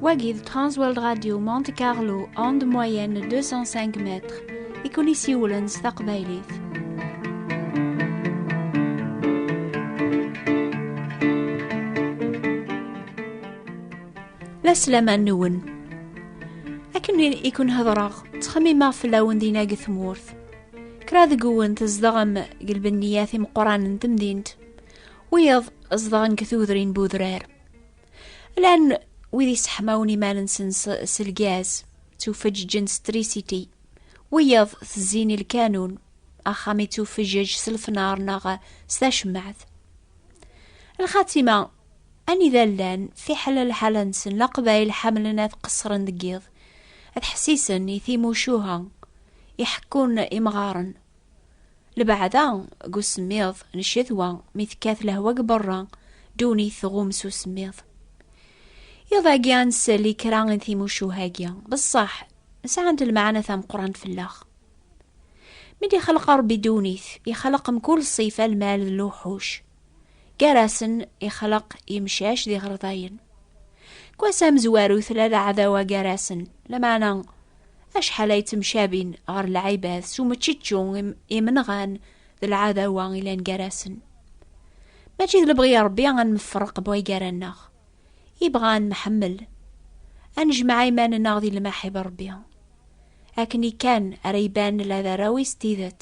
Wagi de Transworld Radio Monte Carlo en de moyenne 205 mètres et connaissez Woolens Taqbaylit. La slama noun. Akken ikun hedreɣ, ttxemmimeɣ fell-awen dinna deg tmurt. Kra deg-wen tzedɣem deg lbenniyat imeqqranen n temdint, wiyaḍ zedɣen deg tudrin n udrar. Llan wid yesseḥmawen iman-nsen s lgaz, ttufeǧǧen s trisiti, wiyaḍ tezzin i lkanun, axxam yettufeǧǧeǧ s lefnar neɣ s tacemmaɛt. Lxatima, anida llan, fiḥel lḥala-nsen, laqbayel ḥamlen ad qeṣṣren deg yiḍ, ad ḥessisen i timucuha, i ḥekkun imɣaren. Lbeɛda deg usemmiḍ n ccetwa mi tekkat lehwa deg berra, ddunit tɣum s usemmiḍ. Iḍ-agi ad nsel i kra n timucuha-agi, beṣṣaḥ sɛant lmeɛna tameqqrant fell-aɣ. Mi d-ixleq Ṛebbi ddunit, ixleq mkul ṣṣifa lmal d luḥuc. gar-asen ixleq imcac d iɣerḍayen. Kwas amezwaru tella leɛdawa gar-asen, lameɛna acḥal ay ttemcabin ɣer lɛibad s umeččečču imenɣan d lɛadawa ilan gar-asen. Mačči d lebɣi Ṛebbi ad nefreq bɣi gar-aneɣ. Ibɣa ad nemḥemmel, ad nejmeɛ iman-nneɣ di lmaḥib Ṛebbi. Akken kan ara iban la d arraw-is tidet.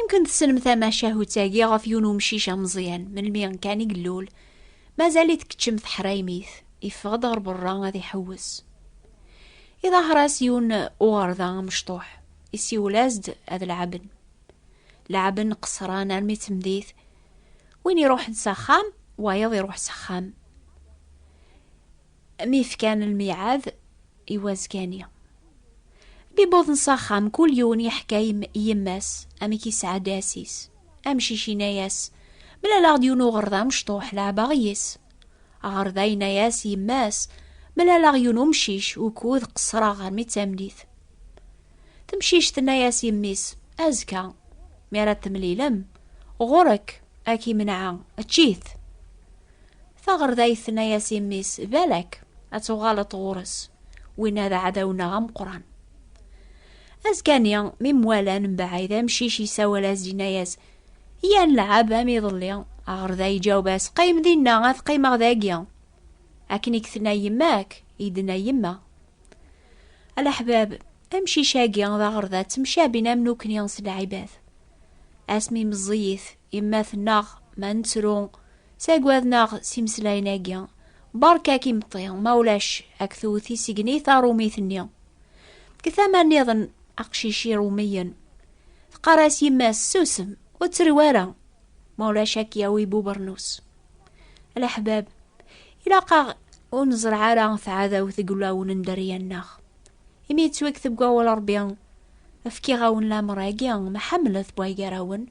Imken tessnem tamacahut-agi ɣef yiwen umcic ameẓyan melmi kan i yellul, mazal-it keččem teḥraymit, yeffeɣ-d ɣer berra ad iḥewwes. Iḍaher-as yiwen uɣerda amecṭuḥ, isiwel-as-d ad lɛaben. Lɛaben qesran armi temdit, win iruḥen s axxam, wayeḍ iruḥ s axxam. Mi fkan lmiɛad i wazgan-i. Mi wwḍen s axxam, kul yiwen yeḥka i yemma-s amek yesɛedda ass-is. Amcic yenna-as, Mlaleɣ-d yiwen uɣerda amecṭuḥ, leɛbeɣ yes. Aɣerda yenna-as i yemma-s, Mlaleɣ yiwen umcic, ukud qeṣṣreɣ armi d tameddit. Temcict tenna-as yemmi-s, Azekka, mi ara temlilem, ɣur-k, ad k-imenɛa, ečč-it! Taɣerdayt tenna-yas i mmi-s, balak ad tuɣaleḍ ɣur-s, winna d aɛdaw-nneɣ ameqqran. Azekka-nni, mi mwalan mbaɛid, amcic yessawal-as-d yenna-yas, Yya nelɛab am iḍelli. Aɣerday iǧaweb-as, Qqim dinna, ad qqimeɣ dagi. Akken i k-tenna yemma-k, i d-tenna yemma. Alaḥbab, amcic-agi d aɣerda ttemcabin am nukni s lɛibad. Asmi meẓẓiyit, yemma tennaɣ ma nettru, Saggaden aɣ s imeslayen agi. Berka-k imeṭṭi, ma ulac ak tewwet isigni tarumit-nni. Deg tama nniḍen aqcic irumiyen. Teqqar-as yemma-s susem, ur ttrew ara, ma ulac ak yawi bubernus. Leḥbab, ilaq-aɣ ur neẓreɛ ara tɛadawt deg ulawen n dderya-nneɣ. Imi yettwakteb deg wawal Rebbi, efkiɣ-awen lamer-agi, ma ḥemmlet bwaygarawen,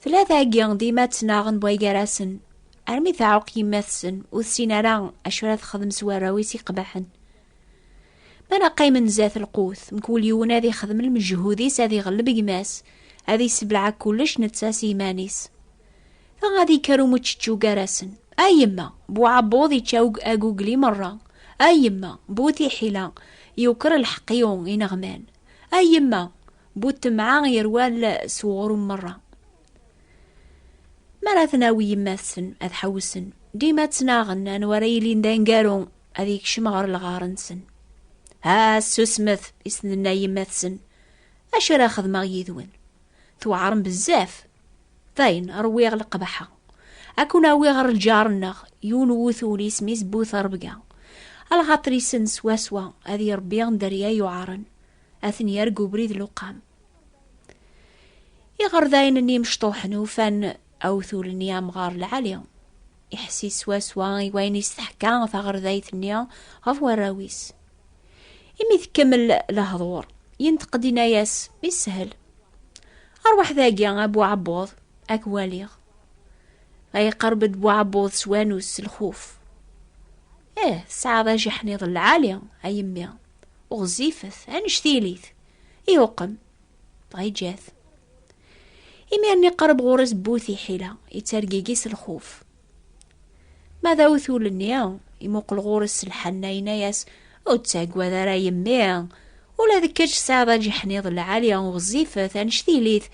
Tella tagi dima ttnaɣen bwa gar-asen, armi teɛuq yemma-tsen ur tessin ara acu ara texdem s warraw-is iqbaḥen. Ma neqqimen zdat lqut, mkul yiwen ad ixdem lmejhud-is ad iɣelleb gma-s, ad issebleɛ kullec netta s yiman-is. Ta ad ikker umuččečču gar-asen. A yemma, bu uɛebbuḍ ičča agugli merra. A yemma, bu tiḥila, yuker lḥeqq i ineɣman. A yemma, Bu temɛa yerwal s uɣrum merra. Mi ara ten-awi yemma-tsen ad ḥewsen, dima ttnaɣen anwa ara yilin d aneggaru ad yekcem ɣer lɣar-nsen. Ha, susmet, i s-tenna yemma-tsen, acu ara xedmeɣ yid-wen? Tweɛrem bezzaf. Dayen, rwiɣ leqbaḥa. Ad kun-awiɣ ɣer lǧar-nneɣ, yiwen wutul isem-is Bu Terbga. Alɣaṭer-isen swaswa, ad irebbi dderya yuɛren. ad ten yerg ubrid luqam. Iɣerdayen n yimecṭuḥen ufan awtul-nni amɣar lɛali. Iḥessi swaswa i wayen is teḥka taɣerdayt-nni ɣef warraw-is. Imi tkemmel lehḍur, yenteq-d inna-yas, Ishel. Arwaḥ dagi, a Bu Ɛebbuḍ, ad k-waliɣ. Ay iqerreb-d Bu Ɛebbuḍ s wanus s lxuf. Eh, tesɛiḍ ajiḥniḍ lɛali, a yemmi. ɣezzifet anect ilit iwqem dɣa iǧǧa-t imir-nni qerb ɣur-s bu tiḥila yettergigi s lxuf ma d awtul-nni imuqel ɣur-s s lḥenna yenna-yas ur ttaggad ara yemmi ula d kečč tesɛiḍ aǧiḥniḍ lɛali ɣezzifet anect ilit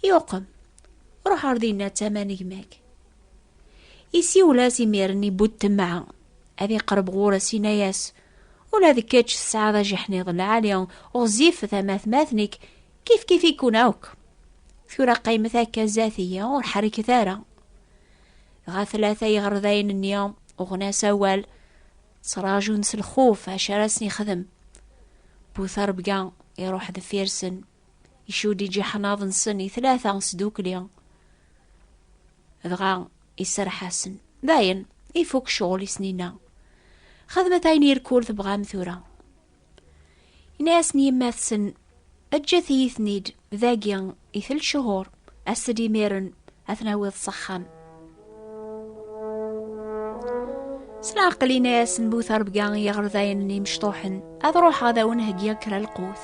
iwqem ruḥ ar dinna d tama n gma-k isiwel-as imir-nni bu ttemɛa ad iqerb ɣur-s yenna-yas Ula d kečč tesɛiḍ ajeḥniḍ lɛali, ɣezzifet am atmaten-ik, kifkif-iken akk. Tura qqimet akka zdat-iyi, ur ḥerrket ara. Dɣa tlata yiɣerdayen-nni uɣen-as awal, ttraǧun s lxuf acu ara sen-ixdem. Bu terbga iruḥ deffir-sen, icudd ijeḥnaḍ-nsen i tlata sdukli. Dɣa iserreḥ-asen. Dayen, ifuk ccɣel i snina. Xedmet ayen irkul tebɣam tura. Yenna-asen yemma-tsen, eǧǧet-iyi-ten-id, dagi i tel ccuhur, as-d imiren ad ten-awiḍ s axxam. S leɛqel yenna-asen bu terbga i yiɣerdayen n yimecṭuḥen, ad ruḥeɣ ad awen-heggiɣ kra lqut.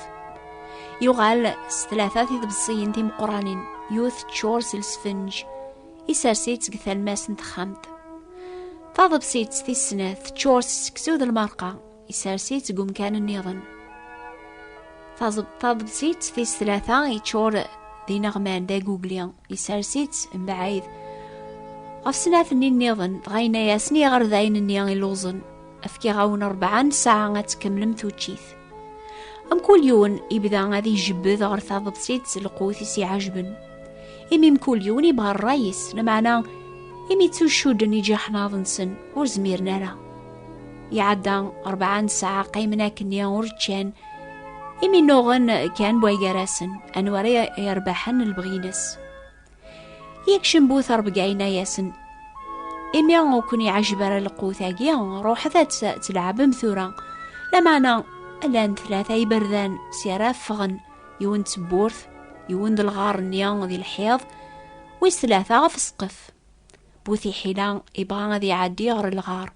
yuɣal s tlata tidebṣiyin timeqqranin yut ččur s lsfenj isers-itt deg talmas n texxamt taḍebsit tis snat teččur s seksu d lmerqa isers-itt deg umkan nniḍen taḍebsit tis tlata yeččur d ineɣman d agugli isers-itt mbaɛid ɣef snat-nni nniḍen dɣa yenna-yasen i yiɣerdayen-nni illuẓen efkiɣ-awen rebɛa n ssaɛa ad tkemmlem tuččit Mkul yiwen yebda ad ijebbed ɣer taḍebsit s lqut i s-iɛejben. Imi mkul yiwen yebɣa ṛṛay-is, lameɛna imi ttuccuden iǧiḥnaḍ-nsen ur zmiren ara. Iɛedda rebɛa n ssaɛa qqimen akkenni ur ččan, imi nnuɣen kan bway gar-asen anwa ara yerbeḥen lebɣi-ines. Yekcem bu terbga yenna-yasen, imi ur ken-iɛejjeb ara lqut-agi, ruḥet ad tleɛbem tura. Lameɛna llan tlata iberdan si ara ffɣen, yiwen d tewwurt, yiwen d lɣar-nni di lḥiḍ, wis tlata ɣef ssqef. Bu tiḥila ibɣa ad iɛeddi ɣer lɣar,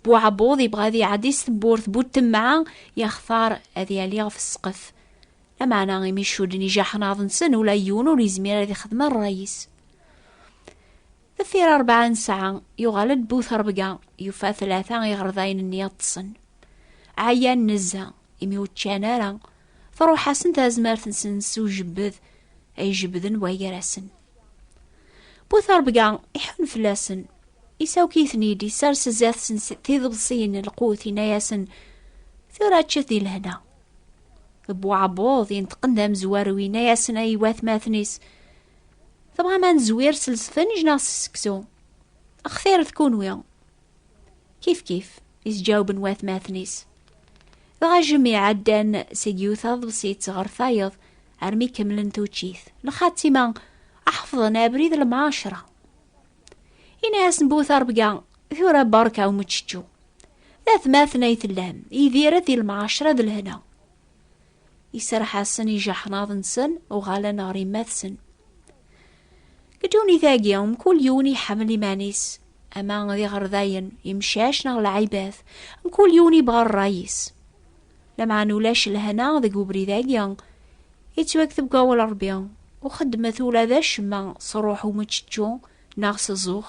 bu ɛebbuḍ ibɣa ad iɛeddi s tewwurt, bu temɛa yaxtar ad yali ɣef ssqef. Lameɛna imi cculen ijaḥen aḍ-nsen ula yiwen ur yezmir ad ixdem rray-is. Deffir rebɛa n ssaɛa yuɣal-d bu terbga yufa tlata iɣerdayen-nni ṭṭsen. Ɛyan nezza imi ur ččan ara truḥ-asen tazmert-nsen s ujebbed ay jebbden wagar-asen. Bu terbga iḥun fell-asen isawk-iten-id isers sdat-sen tiḍebsiyin n lqut inna-asen tura ččet di lehna. Bu ɛebbuḍ yenṭeqen d amezwaru yenna-yasen ay watmaten-is tebɣam ad nezwir s lsfenj neɣ s seksu xtiret kunwi kif kif isǧawben watmaten-is dɣa jemi ɛeddan seg yiwet aḍebsit ɣer tayeḍ armi kemmlen tuččit lxatima aḥefḍen abrid lemɛaceṛa yenna-yasen bu terbga tura berka umeččečču D atmaten ay tellam, idiret di lemɛaceṛa d lehna. Iserreḥ-asen ijaḥnaḍ-nsen, uɣalen ɣer yemma-tsen. Deg ddunit-agi, mkul yiwen iḥemmel iman-is, ama d iɣerdayen, imcac neɣ lɛibat, mkul yiwen yebɣa ṛṛay-is. Lameɛna ulac lehna deg ubrid-agi, yettwakteb deg wawal n Ṛebbi, ur xeddmet ula d acemma s ṛṛuḥ umeččečču neɣ s zzux.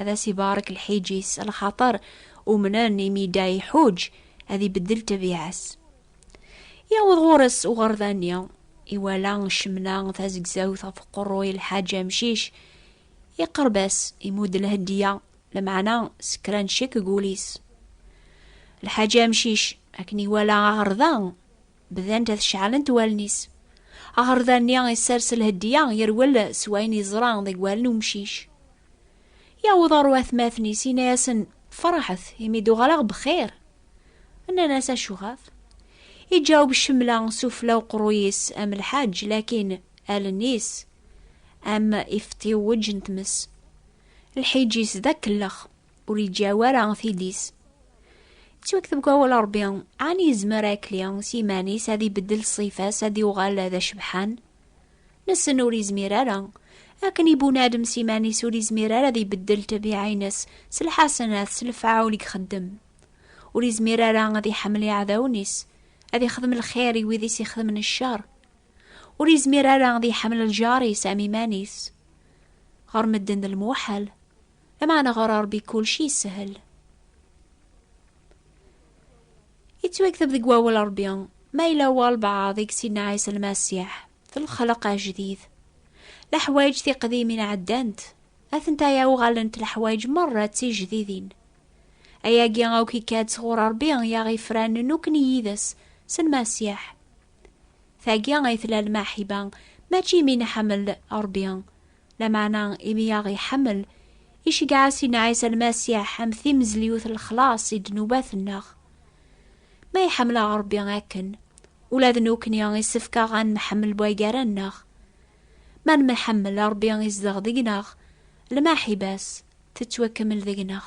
ad as-ibarek lḥiǧ-is, lxaṭer umnen imi yedda iḥuǧ, ad ibeddel ṭṭabiɛa-s. Yewweḍ ɣur-s uɣerda-nni, iwala ccemna tazegzawt ɣef uqerruy lḥaǧ amcic, iqerreb-as, imudd lhedya, lameɛna s kra n ccek deg wul-is. Lḥaǧ amcic, akken iwala aɣerda, Bdan-d ad ceɛlent wallen-is. Aɣerda-nni isers lhedya, yerwel s wayen yeẓra deg wallen umcic. Yawweḍ ɣer watmaten-is, yenna-yasen, Ferḥet, imi d-uɣaleɣ bxir. Nnan-as, Acuɣef? Iǧaweb Cemla s ufella uqerruy-is am lḥaǧ, lakin allen-is am ifeṭṭiwweǧ n tmes. Lḥiǧ-is d akellex, ur yeǧǧaw ara tili-s. Yettwakteb deg wawal Ṛebbi, ɛni yezmer akli s yiman-is ad ibeddel ṣṣifa-s ad yuɣal d acebḥan? Nessen ur yezmir ara. Akken ibunadem s iman-is ur yezmir ara ad ibeddel ṭṭbiɛa-ines s lḥasenat s lefɛul i ixeddem. Ur yezmir ara ad iḥemmel iɛdawen-is, ad ixdem lxir i wid i s-ixedmen ccer. Ur yezmir ara ad iḥemmel lǧar-is am iman-is. Ɣer medden d lmuḥal. Lameɛna ɣer Ṛebbi kulci yeshel. Yettwakteb deg wawal Ṛebbi ma yella walbeɛḍ i yessinen Ɛisa Lmasiḥ d lexleq ajdid. Leḥwayeǧ tiqdimin ɛeddant, atentaya uɣalent leḥwayeǧ meṛṛa d tijdidin. Ayagi akk ikka-d sɣur Ṛebbi i aɣ-ifranen nekkni yid-s s Lmasiḥ. Tagi ay tella lmaḥiba, mačči imi nḥemmel Ṛebbi, Lameɛna imi i aɣ-iḥemmel, iceggeɛ-as i Ɛisa Lmasiḥ am timezliwt n lexlaṣ i ddnubat-nneɣ. Ma iḥemmel-aɣ Ṛebbi akken, ula d nekkni isefk-aɣ ad nemḥemmel bwaygara-nneɣ. Ma nemḥemmel, Ṛebbi izdeɣ deg-neɣ, lmaḥiba-s tettwakemmel deg-neɣ.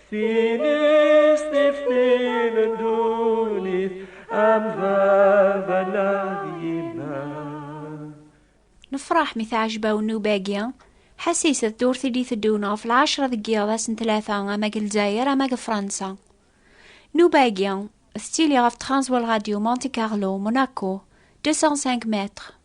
Tines teftin n dunit am baba neɣ yemma. Nefraḥ mi teɛjeb-aw nnuba-agi. Ḥas iset d ur tili teddun ɣef lɛecra deg yiḍ ass n tlata ama deg Lezzayer ama deg Fransa. Nnuba-agi tettili ɣef txanẓwa n Radyu Monte Carlo, Monaco, 205 mètres.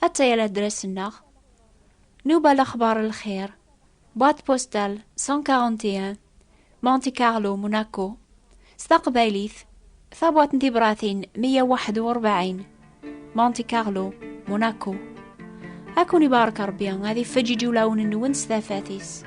Atta ya ladras-nneɣ. Nuba Lexbar Lxir, boîte postale 141, Monte Carlo, Monaco. S taqbaylit, tabwaṭ n tibratin 141, Monte Carlo, Monaco. Ad kun ibarek Rebbi, ad ifeǧǧiǧ ulawen-nwen s tafat-is.